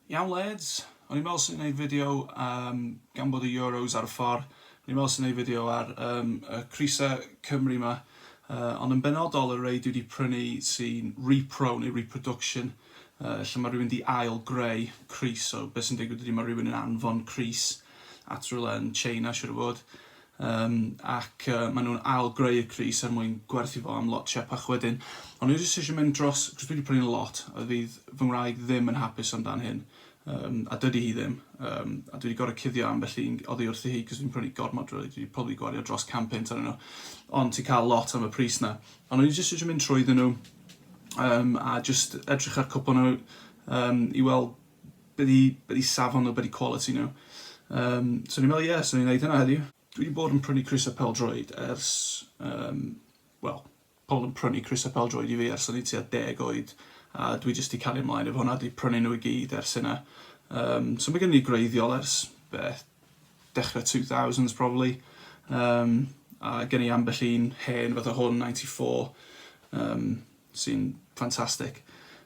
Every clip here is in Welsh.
Iawn lads, o'n i'n meddwl swn i'n neud fideo am gan bod y Euros ar y ffor, o'n i'n meddwl swn i'n neud fideo ar um, y crisa Cymru ma, uh, ond yn benodol y rei dwi wedi prynu sy'n repro neu reproduction, uh, lle mae rhywun di ail greu cris, so beth sy'n digwydd ydy mae rhywun yn anfon cris at rhywle yn China siwr o fod, Yym ac yy ma nhw'n ail greu y crys er mwyn gwerthu fo am lot siepach wedyn. Ond o'n i jyst isio mynd dros cos dwi di prynu nhw lot a fydd fy ngwraig ddim yn hapus am dan hyn yym a dydi hi ddim yym a dwi di gorod cuddio ambell un oddi wrthi hi cos fi'n prynu gormod rili dwi di probably gwario dros can punt arnyn nhw ond ti'n cael lot am y pris na. Ond o'n i jyst isio mynd trwydden nhw yym a jyst edrych ar cwpwl o nhw yym i weld be di, be di safon nhw, be di quality nhw. Um, so ni'n meddwl, ie, yeah, so ni'n neud hynna heddiw. Dwi wedi bod yn prynu crysau peldroed ers, um, wel, pobl yn prynu crysau peldroed i fi ers o'n i tua deg oed, a dwi jyst wedi cael ei ymlaen efo hwnna, wedi prynu nhw i gyd ers hynna. Um, so mae gen i greiddiol ers beth, dechrau 2000s probably, um, a gen i ambell un hen fath o hwn, 94, um, sy'n ffantastig.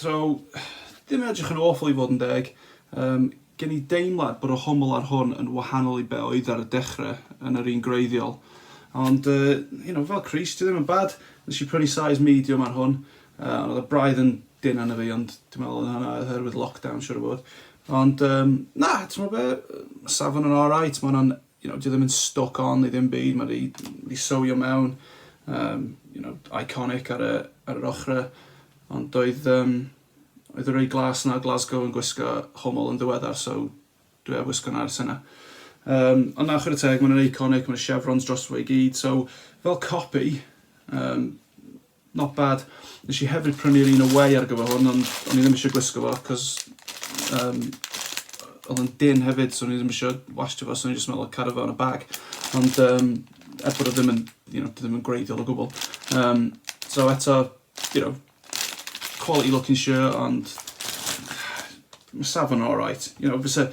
Draw, ddim yn edrych yn awful i fod yn deg. Yym, gen i deimlad bod y hwmwl ar hwn yn wahanol i be oedd ar y dechre, yn yr un gwreiddiol. Ond, yy, you know, fel crease, dyw e ddim yn bad. Nes i prynu size medium ar hwn, yy, ond oedd y braidd yn dynn arno fi, ond dwi'n meddwl oedd hwnna oherwydd lockdown, siŵr o fod. Ond, yym, na, t'mod be', yy, ma' safon yn alright, ma' hwnna'n you know, dyw e ddim yn stuck on i ddim byd, mae wedi wedi sewio mewn, um, you know, iconic ar, y, ar yr ochrau, ond doedd, um, oedd y rei glas yna Glasgow yn gwisgo homol yn ddiweddar, so dwi ar wisgo yna ers yna. Um, ond na, chwrdd teg, mae'n iconic, mae'n chevrons dros fo i gyd, so fel copy, um, Not bad. Nes i hefyd prynu'r un away ar gyfer hwn ond o'n i ddim eisiau gwisgo fo cos um, oedd yn din hefyd so o'n i ddim eisiau wasio fo so o'n i jyst meddwl cario fo yn y bag. Ond um, er bod o ddim yn, you know, ddim yn gwreiddiol o gwbl. Um, so eto, you know, quality looking shirt ond mae safon yn alright. You know, fysa,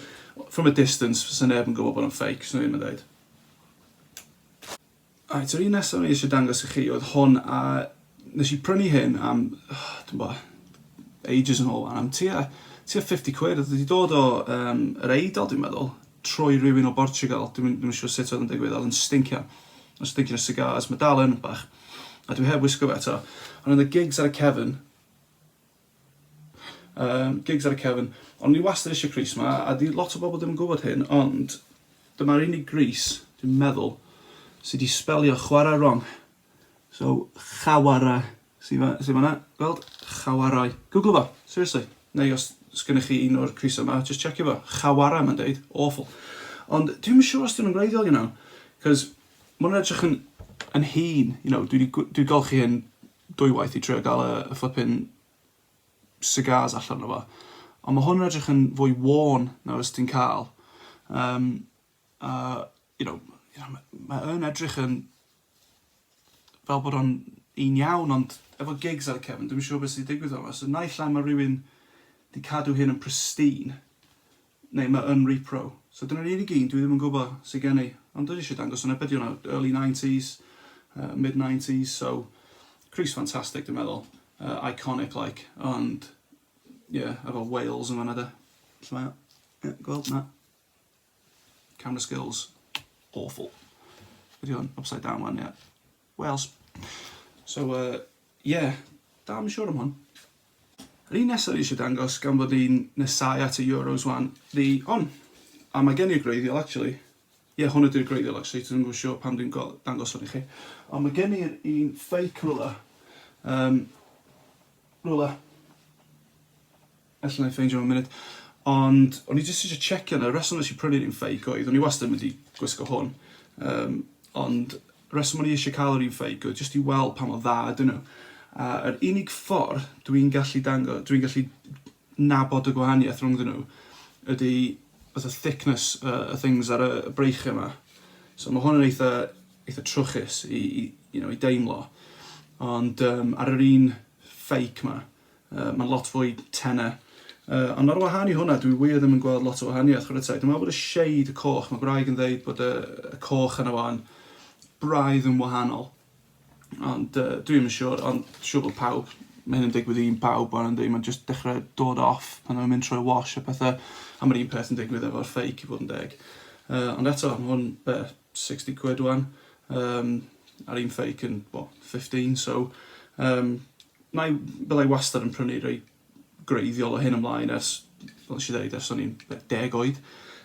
from a distance, fysa neb yn gwybod bod o'n fake, so ddim yn dweud. Reit, yr un nesaf o'n i eisiau dangos i chi oedd hwn, a nes i prynu hyn am, dwi'n bo, ages yn ôl, am tua, tua 50 quid, oedd wedi dod o um, yr eidl, dwi'n meddwl, trwy rhywun o Bortugal, dwi'n ddim yn siŵr sut oedd yn digwydd, oedd yn stincio, yn stincio o cigars, mae dal yn bach, a dwi heb wisgo fe eto, ond oedd y gigs ar y cefn, Yym, gigs ar y cefn. O'n i wastad eisiau crys 'ma, a 'di lot o bobl ddim yn gwybod hyn, ond dyma'r unig grys, dwi'n meddwl, sydd wedi sbelio chwarae wrong. So, chawara, sy'n fa, sy fanna, gweld? Chawarai. Google fo, seriously. Neu os sgynnych chi un o'r crysau yma, just checio fo. Chawara, mae'n deud. Awful. Ond dwi'n siŵr os dwi'n ymwreiddiol, you know, cos mae'n edrych yn, yn hun, you know, dwi wedi, dwi wedi golchi hyn dwy waith i trio gael y flippin cigars allan o fo. Ond mae hwn yn edrych yn fwy worn na fys ti'n cael. Um, a, you know, you know, mae yn edrych yn fel bod o'n un iawn, ond efo gigs ar y cefn, dwi'n siŵr beth sy'n digwydd o'n fo. So, naill ai mae rhywun di cadw hyn yn pristine, Neu mae yn repro. So dyna'r unig un dwi ddim yn gwybod sydd gen i. Ond dwi eisiau dangos hwnna, be di hwnna, early 90s, uh, mid 90s, so Crys fantastic dwi'n meddwl, uh, iconic like, ond, yeah, efo Wales yn fanna de. Lle mae o? Yeah, gweld, na. Camera skills, awful. Ydy hwn, upside down one, yeah. Wales. So yy ie, dal i'm yn siŵr am hwn. Yr un nesaf fi eisiau dangos gan fod i'n nesau at y Euros wan, the on. A mae gen i'r gwreiddiol actually. Ie yeah, hwn ydy'r gwreiddiol actually, dwi'n gwybod siŵr pam dwi'n dangos hwn i chi. Ond mae gen i'r un fake rwla. Um, rwla. Alla i ffeindio fo yn munud. Ond o'n i jyst isio checio nawr, y reswm nes i prynu'r un ffeic oedd, o'n i wastad yn mynd i gwisgo hwn, um, ond reswm o'n i eisiau cael yr un ffeic oedd jyst i weld pa mor dda ydyn nhw. A yr unig ffordd dwi'n gallu dango, dwi'n gallu nabod y gwahaniaeth rhwng nhw ydy fatha thickness y uh, things ar y breichiau yma. So mae hwn yn eitha, eitha trwchus i, i, you know, i deimlo. Ond um, ar yr un ffeic yma, Yy mae'n lot fwy tenau. Yy ond ar wahân i hwnna dwi wir ddim yn gweld lot o wahaniaeth chwarae teg. Dwi'n meddwl bod y shade, y coch, mae gwraig yn ddeud bod y, y coch yna fo yn braidd yn wahanol. Ond uh, dwi ddim yn siŵr, ond siŵr bod pawb mae hyn yn digwydd i'n pawb o'n ynddi, mae'n just dechrau dod off pan mae'n mynd trwy wash a pethau, a mae'r un peth yn digwydd efo'r ffeig i fod yn deg. Uh, ond eto, mae hwn, be, 60 quid wan um, ar un fake yn, well, 15, so um, na i, byddai wastad yn prynu rei greiddiol o hyn ymlaen ers, fel eisiau dweud, ers o'n i'n deg oed.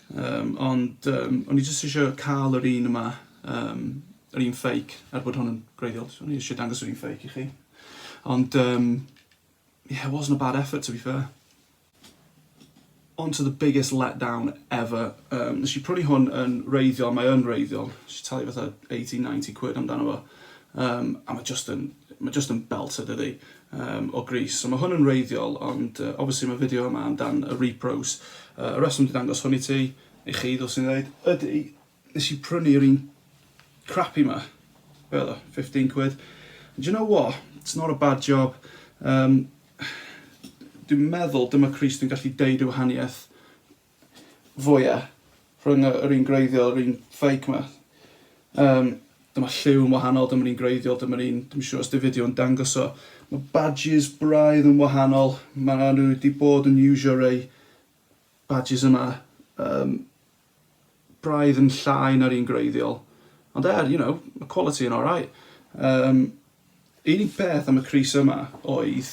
Um, ond um, o'n i jyst eisiau cael yr un yma, um, yr un ffeic, er bod hwn yn greiddiol, o'n i eisiau dangos yr un ffeic i chi. Ond, um, yeah, it wasn't a bad effort to be fair. On to the biggest letdown ever. Um, nes i prynu hwn yn reiddiol, mae yn reiddiol. Nes i talu fatha 80-90 quid amdano fo. Um, a mae just yn, mae just yn belt ydy ddi um, o gris. So mae hwn yn reiddiol, ond uh, obviously mae fideo yma amdan y repros. Uh, y reswm di dangos hwn i ti, i chi, ddylsyn ni ddeud, ydy Nes i prynu yr un crappy ma. Be oedd o? Fifteen quid. Do you know what? It's not a bad job. Yym dwi'n meddwl dyma crys dwi'n gallu deud y wahaniaeth fwya rhwng yr un gwreiddiol a'r un fake ma. Yym dyma lliw yn wahanol, dyma'r un gwreiddiol, dyma'r un, dwi'n siŵr os di fideo yn dangos o. Mae badges braidd yn wahanol, mae nhw wedi bod yn iwsio rei badges yma um, braidd yn llai na'r un gwreiddiol, ond er, you know, ma' quality yn alright. Yym, unig beth am y crys yma oedd,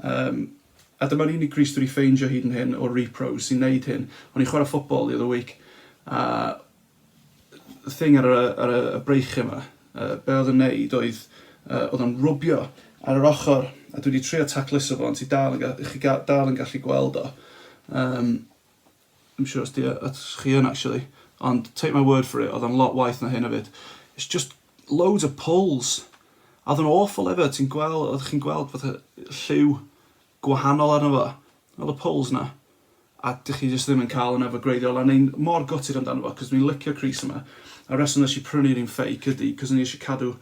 yym, a dyma'r unig grys dwi wedi ffeindio hyd yn hyn o'r repros sy'n neud hyn, o'n i'n chwarae football the other week, a y thing ar y, ar y, y breichiau yma, uh, be oedd yn neud oedd, uh, oedd o'n rwbio ar yr ochr, a dwi wedi trio tacluso fo, ond ti dal yn, ga- chi ga- dal yn gallu gweld o. Um, Dwi'm siŵr os 'di o at chi yn actually, ond take my word for it, oedd o'n lot waeth na hyn efyd. It's just loads of pulls. A oedd o'n awful efe, ti'n gweld, oeddech chi'n gweld fatha lliw gwahanol arno fo, oedd y pulls 'na, a dych chi jyst ddim yn cael hwnna efo gwreiddiol, a o'n i'n mor gutted amdano fo, cos dwi'n licio'r crease yma, a'r reswm nes i prynu'r un fake ydi cos o'n i eisiau cadw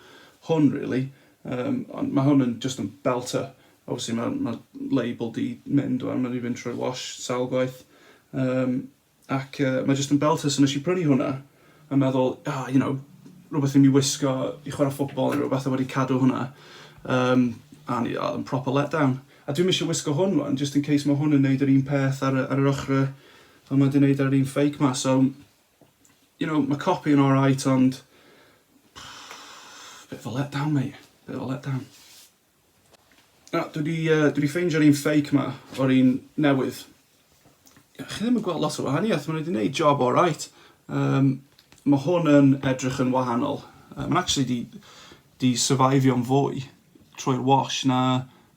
hwn really, ond mae hwn yn jyst yn belter. Obviously ma' ma' label 'di mynd ŵan, ma' 'di fynd trwy'r wash sawl gwaith. Yym ac yy mae jyst yn belter so nesh i prynu hwnna a meddwl ah you know rwbeth i mi wisgo i chwara ffwtbol ne' rwbeth a wedi cadw hwnna yym a o'n i o yn proper let down. A dwi'm isio wisgo hwn rŵan jyst yn case ma' hwn yn neud yr un peth ar y ar yr ochre fel ma' 'di neud ar yr un fake ma so you know ma' copi yn alright ond bit of a let down mate. Bit of a let down. Na, dwi 'di yy dwi 'di ffeindio'r un fake 'ma o'r un newydd. Ie, chi ddim yn gweld lot o wahaniaeth, ma' nw 'di neud job oreit. Yym ma' hwn yn edrych yn wahanol. Yy ma'n actually 'di 'di syfaifio'n fwy trwy'r wash na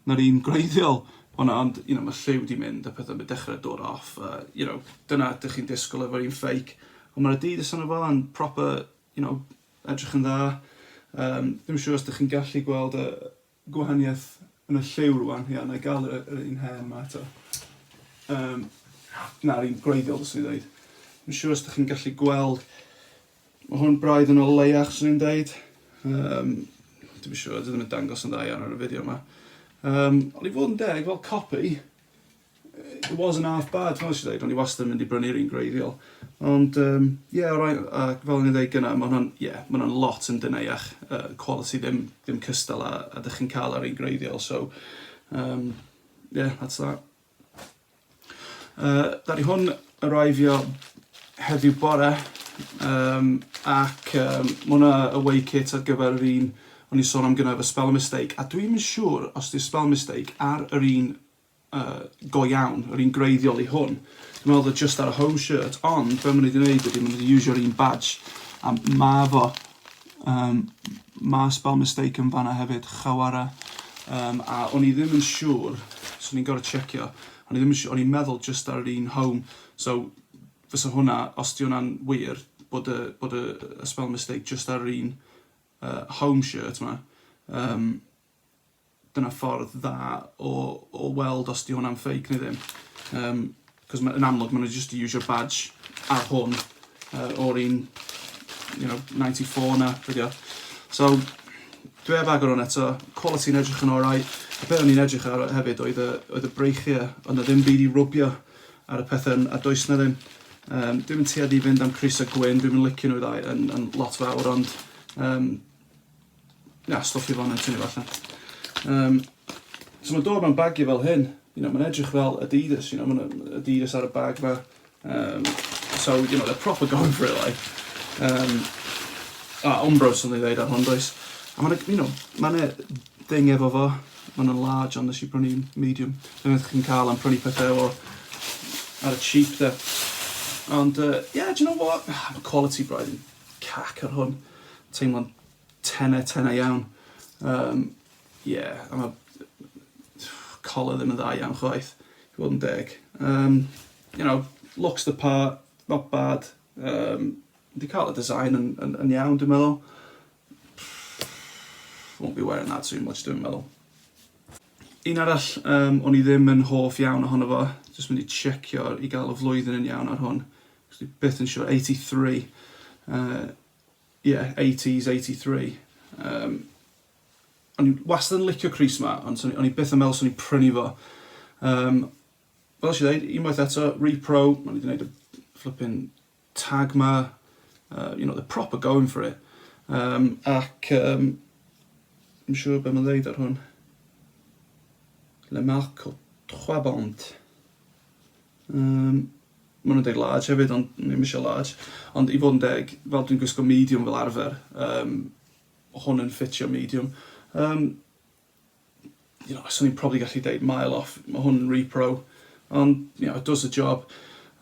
na'r un gwreiddiol hwnna ond you know ma' lliw 'di mynd a petha ma' dechre dod off a you know dyna dych chi'n disgwl efo'r un fake. On' ma'r Adidas arno fo yn proper You know, edrych yn dda. Yym, dwi'm yn siŵr os dych chi'n gallu gweld y gwahaniaeth yn y lliw rwan. Ia, na i gael yr, yr un hen ma eto. Um, na'r un gwreiddiol, dwi'n dweud. Dwi'n siŵr os ydych chi'n gallu gweld, mae hwn braidd yn o leiach, swn i'n dweud. Um, dwi'n siŵr, dwi ddim yn dangos yn dda iawn ar y fideo yma. Um, ond i fod yn deg, fel copi, It wasn't half bad, fel nes i ddeud, o'n i wastad yn mynd i brynu'r un gwreiddiol. Ond, um, yeah, alright, a fel o'n i'n ddeud gyna, mae hwnna'n, yeah, mae hwnna'n lot yn dynaiach, uh, quality ddim, ddim cystal a, a dych chi'n cael ar un gwreiddiol, so, um, yeah, that's that. Uh, da ni hwn arriveio heddiw bore, um, ac um, mae hwnna away kit ar gyfer yr un o'n i'n sôn am gyna efo spell mistake, a dwi'n mynd siŵr os di spell mistake ar yr un go iawn, yr un gwreiddiol i hwn. Dwi'n meddwl oedd o just ar y home shirt, ond be maen nhw wedi gwneud ydy maen nhw wedi iwsio'r un badge, a ma fo, um, ma spell mistake yn fanna hefyd, chawara. Um, a o'n i ddim yn siŵr, so ni'n gorau checio, o'n i ddim yn siŵr, o'n i'n meddwl just ar yr un home, so fysa hwnna, os di hwnna'n wir, bod y, bod y, y spell mistake just ar yr un uh, home shirt ma, um, Dyna ffordd dda o o weld os 'di hwnna'n fake neu ddim. Yym 'c'os ma' yn amlwg ma' nw jyst 'di iwsio badge ar hwn yy o'r un you know ninety four 'na be' 'di o. So dwi heb agor 'wn eto. Quality'n edrych yn orau. Y peth o'n i'n edrych ar hefyd oedd y oedd y breichie o'dd 'na ddim byd i rwbio ar y pethe a does 'na ddim. Yym dwi'm yn tueddu i fynd am crys a gwyn dwi'm yn licio nw ddau yn yn lot fawr ond yym Na, stwff i ffonau'n tynnu fo allan. Um, so mae'n dod mewn bagiau fel hyn. You know, mae'n edrych fel Adidas, you know, mae'n Adidas ar y bag fa. Um, so, you know, they're proper going for it, like. Um, a Umbros yn ei ddeud ar hon, does. A mae'n, you know, mae'n e ding efo fo. Mae'n yn large, ond nes i brynu medium. Dwi'n meddwl chi'n cael am prynu pethau efo ar y cheap, da. Ond, uh, yeah, do you know what? Ah, quality braidd. Cac ar hwn. Teimlo'n tenne, tenne iawn. Um, yeah, a mae collar ddim yn dda iawn chwaith, i fod yn deg. Um, you know, looks the part, not bad. Um, di cael y design yn, yn, yn iawn, dwi'n meddwl. Won't be wearing that too much, dwi'n meddwl. Un arall, um, o'n i ddim yn hoff iawn ohono fo, jyst mynd i checio i gael y flwyddyn yn iawn ar hwn. Dwi byth yn siwr, 83. Uh, yeah, 80s, 83. Um, o'n i wastad yn licio Cris ma, ond o'n i byth yn meddwl swn i'n prynu fo. Um, fel si dweud, unwaith eto, repro, o'n i wedi gwneud y flipping tag ma, uh, you know, the proper going for it. Um, ac, um, yn siŵr beth mae'n dweud ar hwn. Le marque trois bandes. Yym, maen nhw'n dweud large hefyd ond o'n i'm eisiau large. Ond i fod yn deg, fel dwi'n gwisgo medium fel arfer, um, hwn yn ffitio medium. Um, you know, swn i'n probably gallu deud mile off, mae hwn yn repro, ond, you know, it does the job.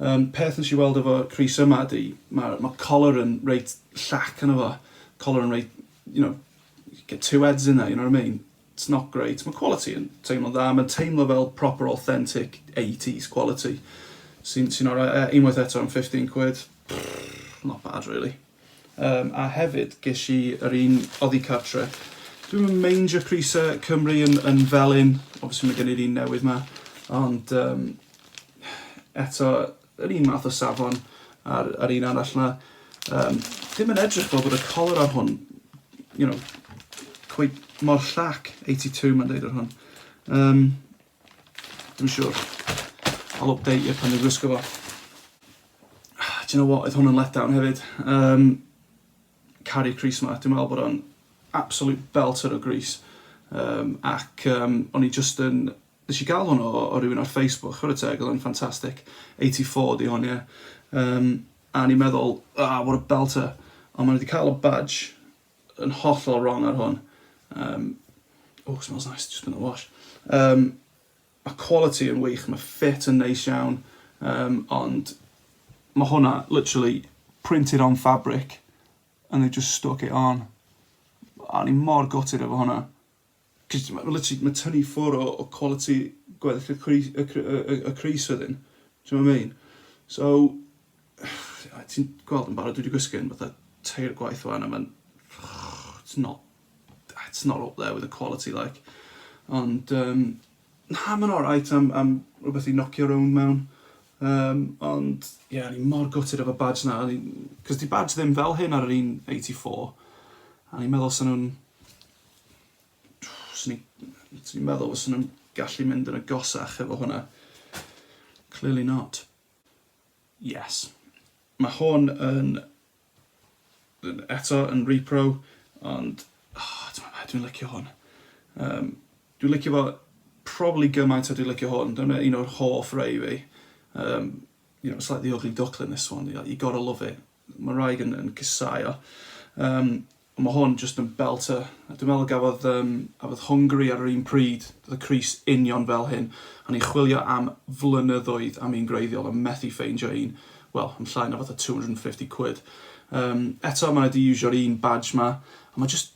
Um, peth nes i weld efo Cris yma di, mae ma collar yn reit llac yn efo, collar yn reit, you know, get two heads in there, you know what I mean? It's not great. Mae quality yn teimlo'n dda. Mae'n teimlo fel proper authentic eighties quality. Sy'n sy'n orau. Yy unwaith eto am fifteen quid. Not bad really. Yym a hefyd gesh i yr un oddi cartre. Dwi'm yn meindio prise Cymru yn yn felyn. Obviously mae gen i'r un newydd 'ma. Ond yym eto yr un math o safon a'r, a'r un arall na. Um, ddim yn edrych fel bod y color ar hwn, you know, cwyd mor llac, 82 mae'n deud ar hwn. Um, Dwi'n siwr. I'll update you pan dwi'n gwisgo fo. Ah, do you know what, oedd hwn yn let down hefyd. Um, Carry Crease ma, dwi'n meddwl bod o'n absolute belter o Grease. Um, ac um, o'n i just yn Nes i gael hwn o o rywun ar Facebook chwarae teg oedd o'n ffantastic. 84 di hwn ie. Yym a o'n i'n meddwl ah what a belter ond ma' nhw di cael y badge yn hollol wrong ar hwn. Yym oh it smells nice, just gonna wash. Yym ma' quality yn wych, ma' ffit yn neis iawn yym ond ma' hwnna literally printed on fabric and they've just stuck it on. A o'n i mor gutted efo hwnna. Cos ma' literally, ma' tynnu ffwr o o quality gweddill y cwri- y cr- y y y crys wedyn. T'mo' be' I mean? So a ti'n gweld yn barod dwi 'di gwisgo un fatha tair gwaith ŵan a ma'n it's not it's not up there with the quality like. Ond yym na ma'n alright am am rwbeth i nocio rownd mewn. Yym ond ie o'n i mor gutted efo badge 'na o'n i... 'C'os 'di badge ddim fel hyn ar yr un eighty four a o'n i'n meddwl sa nw'n Swn i... Swn i'n meddwl fyswn nhw'n gallu mynd yn agosach efo hwnna. Clearly not. Yes. Mae hwn yn... Eto yn repro, ond... Oh, ti'n meddwl, dwi'n licio hwn. Um, dwi'n licio fo probably gymaint a dwi'n licio hwn. Dyna un o'r hoff rei fi. Um, you know, slightly ugly duckling this one. You gotta love it. Mae'r wraig yn yn casáu o. Yym ond mae hwn jyst yn belter. A dwi'n meddwl y gafodd yym gafodd Hwngari ar yr un pryd, doedd y crys union fel hyn. O'n i'n chwilio am flynyddoedd am un gwreiddiol a methu ffeindio un, wel, am llai na fatha two hundred and fifty quid. Yym eto ma' nhw 'di iwsio'r un badge 'ma a ma' jyst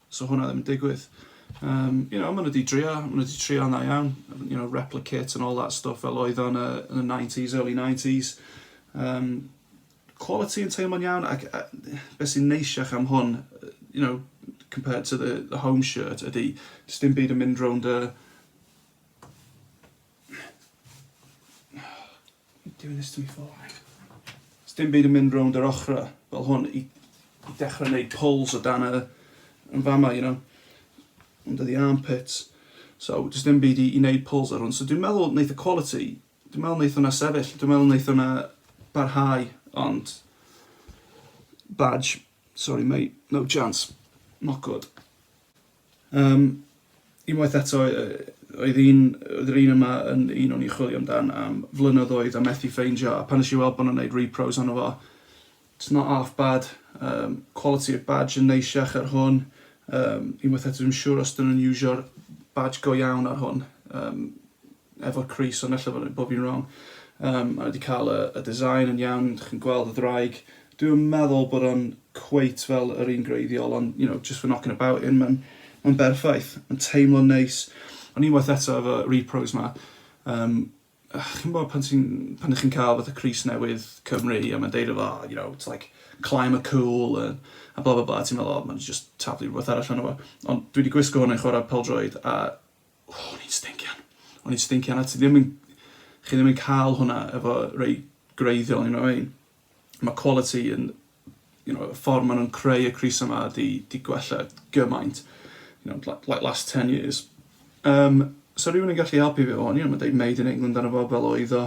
'sa hwnna ddim yn digwydd. Um, you know, maen nhw wedi drio, maen nhw wedi trio na iawn, you know, replicate and all that stuff fel oedd o'n yn y 90s, early 90s. Um, quality yn teimlo'n iawn, ac uh, beth sy'n neisiach am hwn, you know, compared to the, the home shirt, ydy, dim byd yn mynd rownd y, Doing this to me for? Sdim byd yn mynd rownd yr ochrau fel hwn i, i dechrau wneud pulls o dan y, yn fama, you know, under the armpits. So, does dim byd i, i wneud pulls ar hwn. So, dwi'n meddwl wneud y quality, dwi'n meddwl wneud hwnna sefyll, dwi'n meddwl wneud hwnna barhau, ond badge, sorry mate, no chance, not good. Yym, unwaith eto, oedd un, oedd yr un yma yn un o'n i'n chwilio amdan am flynyddoedd a methu ffeindio, a pan nes i weld bod nhw'n gwneud repros arno fo, it's not half bad, um, quality of badge yn neisiach ar hwn, um, unwaith eto dwi'n siŵr os dyn nhw'n iwsio'r badge go iawn ar hwn, um, efo'r crys ond ella bod bod fi'n wrong yym mae wedi cael y y design yn iawn dych chi'n gweld y ddraig dwi'm yn meddwl bod o'n cweit fel yr un gwreiddiol ond you know just for knocking about in mae'n mae'n berffaith mae'n teimlo'n neis ond unwaith eto efo repros ma yym chi'n gwybod pan ti'n pan ydych chi'n cael fatha crys newydd Cymru a mae'n deud efo you know it's like climb a cool a, a bla bla bla ti'n meddwl o mae'n just taflu rhywbeth arall arno fo ond dwi wedi gwisgo hwn yn chwarae peldroed a O, o'n i'n stincian. O'n i'n stincian a ti ddim yn... Chi ddim yn cael hwnna efo rei gwreiddiol, you know what I mean? Mae quality yn... You know, y ffordd maen nhw'n creu y crys yma di, di gwella gymaint. You know, like, like last 10 years. Um, so rhywun yn gallu helpu fi o'n i, ond mae'n dweud made in England arno fo fel oedd o.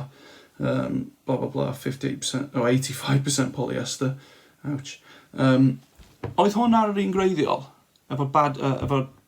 Um, bla bla bla, 58%, oh, 85% polyester. Ouch. Um, oedd hwn ar yr un gwreiddiol? Efo bad, uh, efo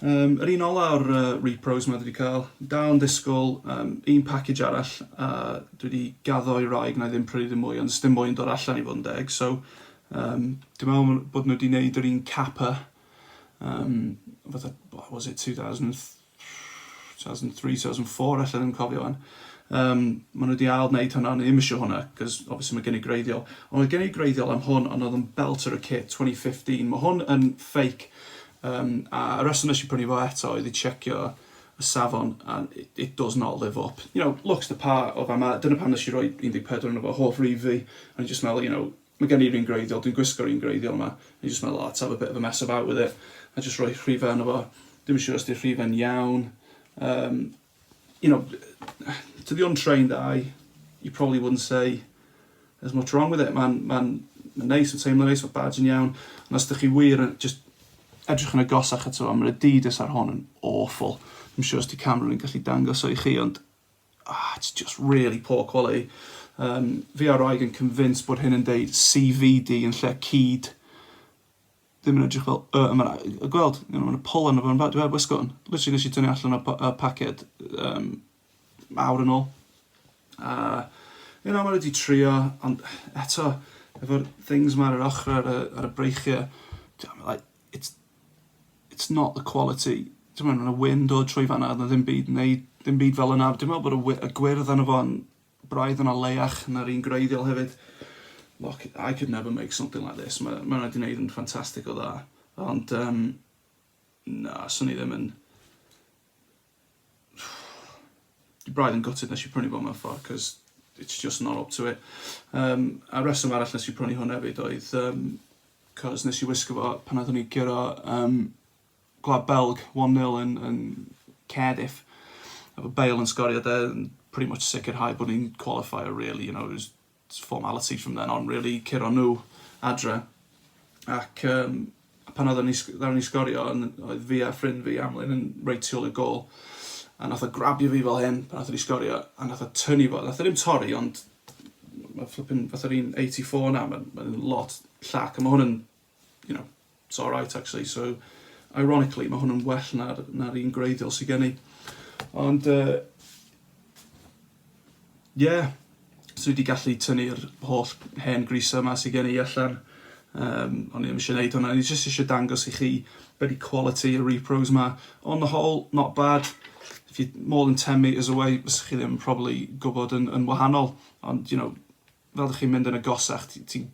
Um, yr un ola o'r uh, repros mae dwi wedi cael. Dal yn disgwyl um, un package arall a uh, dwi wedi gaddo i raig na i ddim prynu ddim mwy ond dim mwy yn dod allan i fod yn deg. So, um, dwi'n meddwl bod nhw wedi gwneud yr un capa um, fatha, what was it, 2000 2003, 2004 ella, ddim yn cofio wan. Um, maen nhw wedi ail wneud hwnna, ond ddim eisiau hwnna, cos obviously mae gen i greiddiol. Ond oedd gen i greiddiol am hwn, ond oedd yn belt ar y kit 2015. Mae hwn yn fake, um, a y reswm nes i prynu fo eto oedd i checio y safon, and it, it does not live up. You know, looks the part o fama, dyna pam nes i roi 14 yn efo holl rif fi, ond i just meddwl, you know, Mae gen i'r un gwreiddiol, dwi'n gwisgo'r un gwreiddiol 'ma, o'n i jyst meddwl I'll have a bit of a mess about with it a jyst rhoi rhifau arno fo, dwi'm yn siŵr os 'di'r rhifau'n iawn, um, you know, to the untrained eye, you probably wouldn't say there's much wrong with it, mae'n ma ma neis, yn teimlo neis, mae badge yn iawn, ond os ydych chi wir yn just edrych yn agosach ato fo, mae'r Adidas ar hon yn awful, dwi'n siŵr os di camera yn gallu dangos o i chi, ond Ah, it's just really poor quality. Yym, fi a'r wraig yn convinced bod hyn yn deud CVD yn lle cyd. Ddim yn edrych fel Y yma. A gweld, you know, ma' 'na pollen a petha. Dwi heb wisgo hwn. Literally nes i tynnu allan o'r y paced um, awr yn ôl. A, you know, mae wedi trio, ond eto, efo'r things ma ar yr ochr ar y, ar y breichiau, like, it's it's not the quality t'mo' ma' 'na wyn dod trwy fan 'na o'dd 'na ddim byd neu dim byd fel yna dwi me'wl bod y wy- y gwyrdd arno fo'n braidd yna leiach na'r un gwreiddiol hefyd. Look I could never make something like this ma' ma' 'na 'di neud yn ffantastig o dda ond yym na swn i ddim yn Dwi braidd yn gutted nes i prynu fo mewn ffordd, cos it's just not up to it. Um, a reswm arall nes i prynu hwn hefyd oedd, um, cos nes i wisgo fo pan oeddwn i gyro um, Gwlad Belg 1-0 yn, yn Cardiff. Efo Bale yn sgorio de, pretty much sicrhau bod ni'n qualifier really, you know, it was It's formality from then on rili, curo nhw adre ac yym pan oedden ni sg- ddaru ni sgorio yn oedd fi a ffrind fi Amlyn yn reit tu ôl i'r gôl a nath o grabio fi fel hyn pan nathon ni sgorio a nath o tynnu fo nath e ddim torri ond ma' flippin fatha'r un eighty four 'na ma'n ma'n lot llac a ma' hwn yn you know, it's alright actually, so ironically mae hwn yn well na'r, na'r un gwreiddiol sy'n gen i. Ond, uh, yeah, so wedi gallu tynnu'r holl hen grisau yma sy'n gen i allan. Um, o'n i ddim eisiau gwneud hwnna, o'n i jyst eisiau dangos i chi beth i quality y repros yma. On the whole, not bad. If you're more than 10 metres away, fysych chi ddim probably gwybod yn, yn wahanol. Ond, you know, fel dych chi'n mynd yn agosach ti'n ti'n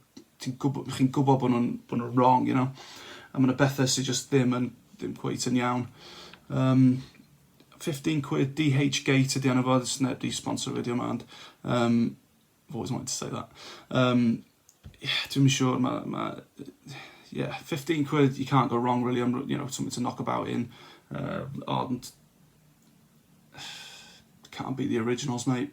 ti'n gwbo chi'n gwbo bo nhw'n bo nhw'n wrong you know a ma' 'na bethe sy jyst ddim yn ddim cweit yn iawn. Yym 15 quid DH Gate ydi enw fo does neb 'di sponsor fideo 'ma ond yym I've always wanted to say that. Yym ie dwi'm yn siŵr ma' ma' yy ie 15 quid you can't go wrong really am you know something to knock about in yy ond can't beat the originals mate.